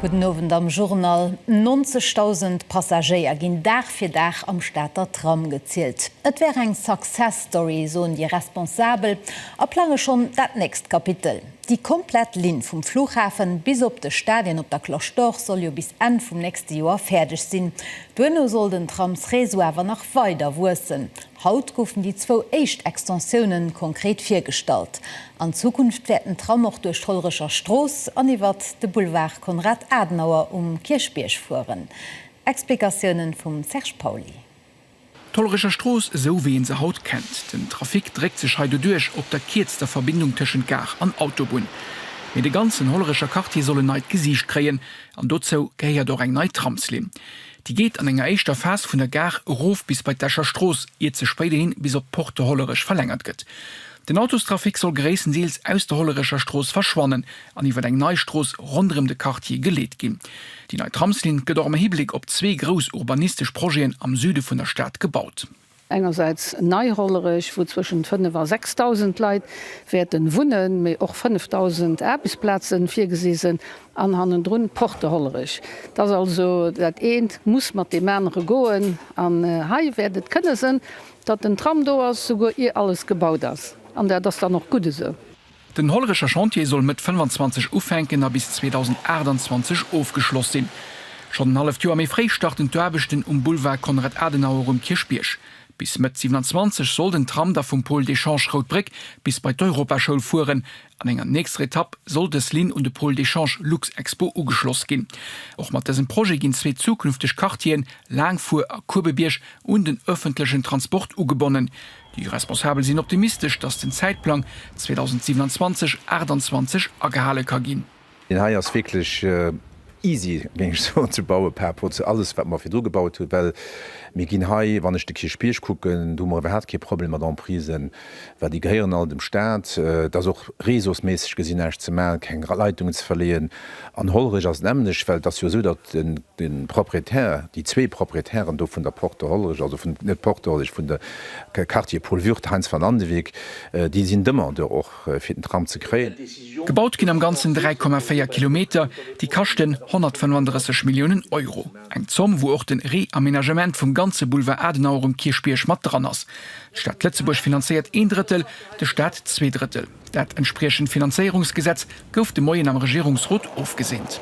Gudden Owend am Journal. 90.000 Passagéier ginn Dag fir Dag am Stater Tram gezielt. Et wär eng Success Story, soen déi Responsabel a plange schonn dat nächst Kapitel. Déi komplett Linn vum Flughafe bis op de Stadien op der Cloche d'Or soll jo bis Enn vum nächste Joer fäerdeg sinn. Duerno soll den Tramsreseau awer nach weider wuessen. Haut goufen déi zwou éischt Extensiounen konkret virgestallt. An Zukunft wäert den Tram och duerch d'Hollerecher Strooss an iwwert de Boulevard Konrad Adenauer um Kierchbierg fueren. Explikatiounen vum Serge Pauly. D'Hollerecher Strooss esou wéi een se haut kennt. Den Trafic dréckt sech hei doduerch op der kierzter Verbindung tëschent Gare an Autobunn. Mee de ganzen Hollerecher Quartier soll en neit Gesiicht kréien. An dozou gehéiert och eng nei Tramslinn. Déi geet an enger éischter Phas vun der Gare erof bis bei d'Escher Strooss, iert se spéider hin bis op d'Porte de Hollerech verlängert gëtt. Den Autostrafic soll gréisstendeels aus der Hollerecher Strooss verschwannen an iwwer eng nei Strooss ronderëm de Quartier geleet ginn. Déi nei Tramslinn gëtt och am Hibléck op zwee grouss urbanistesch Projeten am Süde vun der Stad gebaut. Engersäits nei Hollerech, wou zwëschent 5 a 6.000 Leit wäerten wunnen, mee och 5.000 Aarbechtsplazen virgesi sinn, an hannendrun Porte Hollerech. Et ass also, dat eent muss mat deem anere goen, an hei wäert et kënne sënn, datt den Tram do ass, souguer ier alles gebaut ass, an dat ass dann och gutt esou. Den Hollerecher Chantier soll Mëtt 25 ufänken a bis 2028 ofgeschloss sinn. Schonn en halleft Joer méi fréi starten d'Aarbechten um Boulevard Konrad Adenauer um Kierchbierg. Bis Mëtt 27 soll den Tram da vum Pôle d'échange Rout Bréck bis bei d'Europaschoul fueren. An enger nächster Etapp soll dës Linn un de Pôle d'échange Luxexpo ugeschloss ginn. Och mat dësem Projet ginn zwee zukünfteg Quartieren, Laangfuer a Kuebebierg, un den ëffentlechen Transport ugebonnen. Déi Responsabel sinn optimistesch, datt den Zäitplang 2027, 28 agehale ka ginn. Deen hei ass wierklech easy, géing ech soen, ze bauen par rapport zu alles, wat mer virdru gebaut hunn, well mir ginn hei, wann ech de Kierchbierg kucken, do hu mer iwwerhaapt kee Problem mat Emprisen, well déi gehéieren all dem Staat. Et ass och réseausméisseg gesinn näischt ze maachen, keng Leitungen ze verleeën. An Hollerech ass et nämmlecht, well et ass jo esou, datt de Proprietär, déi zwee Proprietären do vun der Porte Hollerech, also vun, net Porte Hollerech, vun de Quartier Paul Würth, Heinz van Andewyck, déi sinn Demandeur och fir den Tram ze kréien. Gebaut ginn am Ganzen 3,4 Kilometer, déi kaschten 135 Milliounen Euro. Eng Zomm, wou och de Reaménagement vum ganze Boulevard Adenauer um Kierchbierg mat dran ass. D'Stad Lëtzebuerg finanzéiert een Drëttel, de Staat zwee Drëttel. Dat entspriechend Finanzéierungsgesetz gouf de Moien am Regierungsrot ofgeseent.